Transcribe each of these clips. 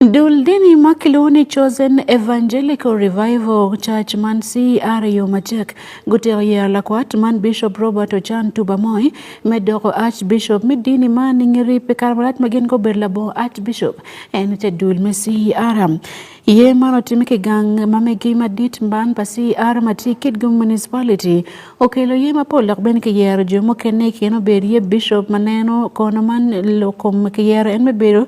Dul dini ma kilwongo ni Chosen Evangelical Revival Church man CRU macek gutyeko yero lakwat man Bishop Robert Ochan Tuba Moi me doko Archbishop me dini man i ngeri pi kare malac ma gin gubedo labongo Archbishop en te dul me CR. Yer man otime ki gang ma megi madit man pa CR ma tye i Kitgum Municipality. Okelo yer mapol dok bene kiyero jo mukene i kine obed iye Bishop ma neno kono man lokom kiyero en me bedo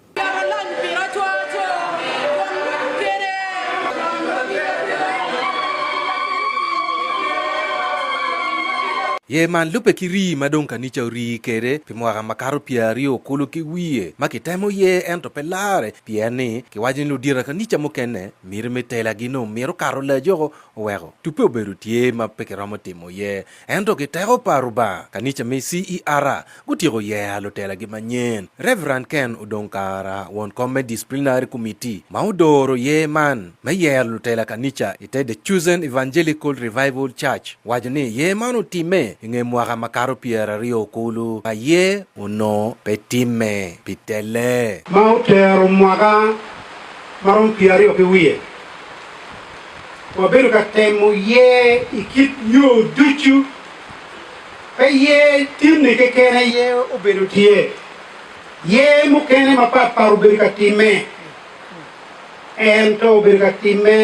Yer man lubbe ki rii ma dong kanica orii kwede pi mwaka makato pyeraryo okulu ki wiye ma kitemo yer ento pe larre pien ni kiwaco ni ludira kanica mukene miti me telagi nongo mito kato lajoko oweko tubbe obedo tye ma pe kiromo timo yer Ento ki teko pa Rubanga, kanica me CER gutyeko yea lutelagi manyen. Reverend Ken Odong Kara, won kom me Disciplinary Committee ma odoro yer man me yero lutela kanica i te The Chosen Evangelical Revival Church, waco ni yer man otimme i nge mwaka makato pyeraryo kulu ma yer onongo pe timme pi tele. Ma otero mwaka maromo pyeraryo ki wiye wabedo ka temo ye i kit yo ducu, pe ye tinne keken aye obedo tye, ye mukene mapat pat obedo ka timme, ento obedo ka timme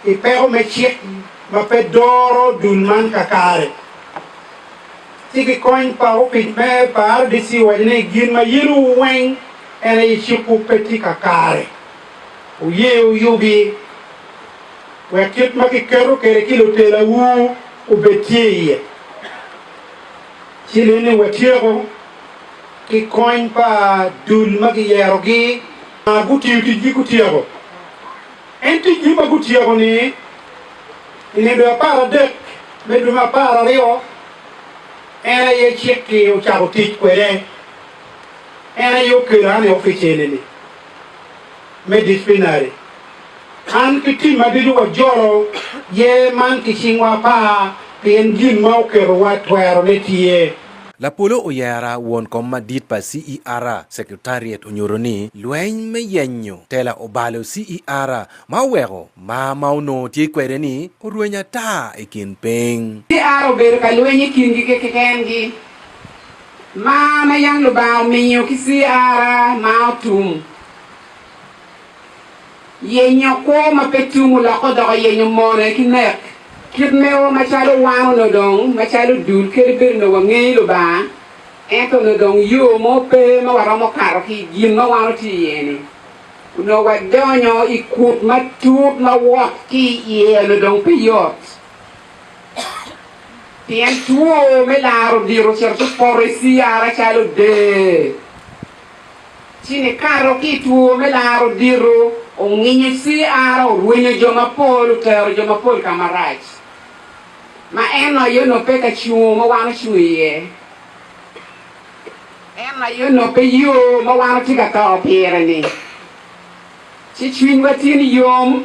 i peko me cik ma pe doro dul man kakare. Ci ki kony pa opic me pa RDC owaco ni gin ma yin wu weng En aye cikwu pe tye kakare. Wuye wuyubi, wek kit ma kiketo kwede ki lutelawu obed tye iye. Ci lene watyeko ki kony pa dul ma giyerogi ma gutiyo ticgi gutyeko. En ticgi ma gutyeko-ni, i nino apar adek me dwe me apar aryo, en aye cik-ki ocako tic kwede. En aye okelo an i opic eni-ni me disciplinary. An ki tim ma ducu wajolo yer man ki cingwa apar pien gin ma oketowa twerone tye. Lapolo oyera won kom madit pa CERA Secretariat onyuto ni lweny me yenyo tela obalo CERA ma oweko mar ma onongo tye kwede ni orweny ata i kin piny. CERA obedo ka lweny i kingi kekengi Mar ma yam Lubanga omiyo ki CRA ma otum. Yenyo kwo ma pe tum olokke odoko yenyo mone ki nek. Kit mewa macalo wan onongo dong macalo dul kadi bed onongo wangeyo Lubanga, ento onongo dong yo mo pe ma waromo kato ki i gin ma wan watye iye-ni. Onongo wadonyo i kut matut ma wot ki iye onongo dong pe yot. pien two me lar odiro ocito ki poto eciara calo dee, ci nikato ki i two me lar odiro onginyo eciara, orwenyo jo mapol, otero jo mapol ka marac, ma en aye onongo pe ka cungo ma wan ocung iye, en aye onongo pe yo ma wan watye ka to pire-ni, ci cwinywa tye niyom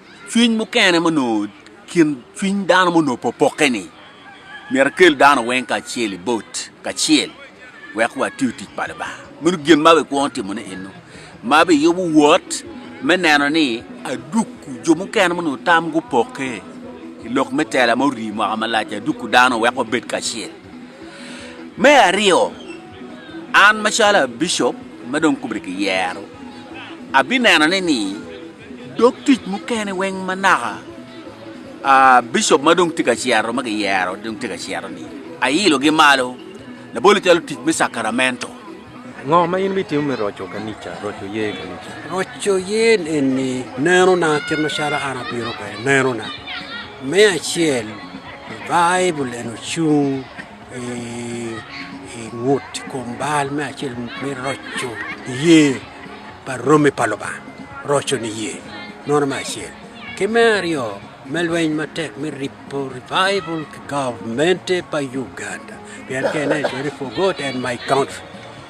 Cwiny mukene ma onongo kin cwiny dano ma onongo popokke-ni myero ekel dano weng kacel i bot kacel wek watiyo tic pa Lubanga. Meno gin ma bikwongo timone eno, ma biyubo wot me neno ni aduku jo mukene ma onongo tam gupokke i lok me tela ma orii mwaka malac-ci, aduku dano wek wabed kacel. Me aryo, an macalo abicop ma dong kome kiyero, abinenone ni Dog tic mukene weng ma naka bicop ma dong tye ka cito ma giyero dong tye ka cito ni ailo gi malo labole calo tic me sakaramento. Ngo ma in ibitimo me roco kanica, roco yer kanica? Roco yer eni neno na kit ma calo an apiro kwede neno na me acel baibul eni ocung. i ngut i kom bal me acel me roco niye pa romi pa Lubanga roco niye meno me acel ki me aryo me lweny matek me ripo revival ki gavmente pa Uganda pien ka ineno 24 God and my country.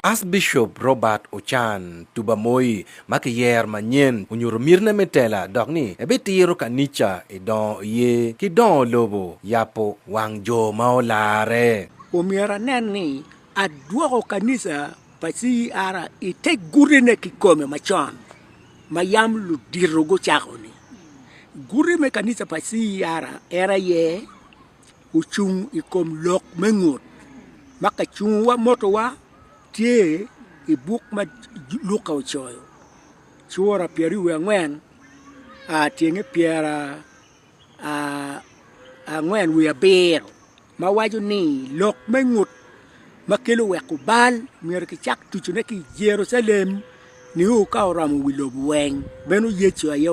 Archbishop Robert Ochan Tubamoi ma kiyer manyen onyuto mitine me tela dok ni ebitiro kanica i dongo oye ki dongo lobo yabo wang jo ma olarre. Omyero anen ni adwoko kanica pa CER i te gutine kikome macon ma yam ludito gucako-ni. Guti me kanica pa CER en aye ocung i kom lok me ngut ma kicungowa motowa tye i buk ma Luka ocoyo cura pyeraryo wiye angwen tyenge pyerangwen wiye abiro ma waco ni lok me ngut ma kelo weko bal myero kicak tucone ki i Jerucalem nio ka oromo wi lobo weng, meno Yecu aye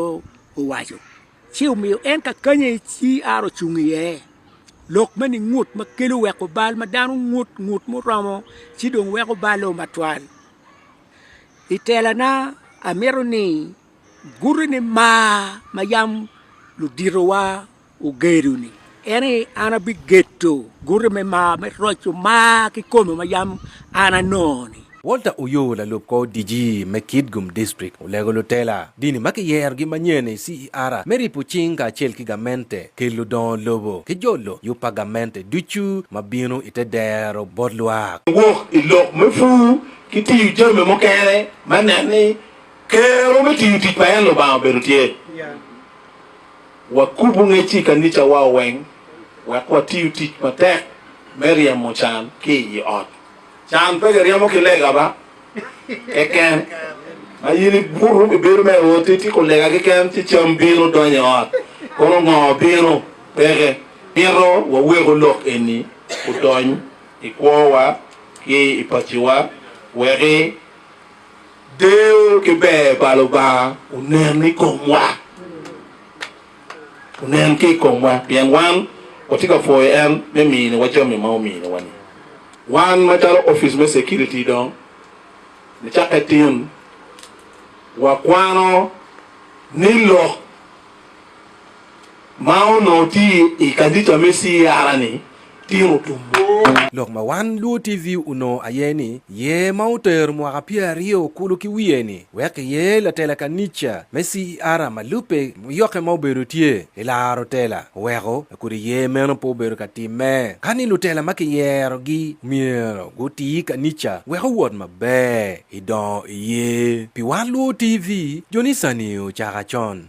owaco. Ci omiyo en ka kany aye ci Ara ocung iye, lok me ni ngut ma kelo weko bal ma dano ngut ngut muromo ci dong weko balle o matwal. I telana amito ni guti ni mar ma yam luditowa ogedo-ni. En ni, An abigedo gute me mar me roco mar kikome ma yam an anongo-ni. Walter Oyoo lalub kor DG me Kitgum District olego lutela dini ma kiyerogi manyen i CER me ripo cing kacel ki gamente, ki ludongo lobo, ki jolo yub pa gamente ducu ma bino i te dero bot lwak. Wok i lok me pur ki tiyo jami mukene me neno ni kero me tiyo tic pa en Lubanga obedo tye. Wakubu ngec i kanicawa weng wek watiyu tic matek me ryemo can ki i ot. Can pe kiryemo ki lega ba keken, ma in ibutu ibedo me ot ityeko lega keken ci cam bino donyo i ot, kono ngo bino peke. Mito waweku lok eni odony i kwowa ki i paciwa weki. Deyo ki ber pa Lubanga onen i komwa, onen ki i komwa pien wan watye ka pwoyo en me miniwa jami ma ominiwa-ni. Wan macalo opic me security dong nicakke tin, wakwano ni lok. ma onongo tye i kanica me Sierra ni tino tumbo. Lok ma wan Luo TV onongo aye ni yer ma otero mwaka pyer aryo kulu ki wiye ni wek kiyer latela kanica me Sierra ma lubbe muyokke ma obedo tye ki laro tela oweko kodi yer meno pe obedo ka timme ka ni lutela ma kiyerogi myero guti kanica wek owot maber i dongo iye. Pi wan Luo TV, jo ni sani ocako acon.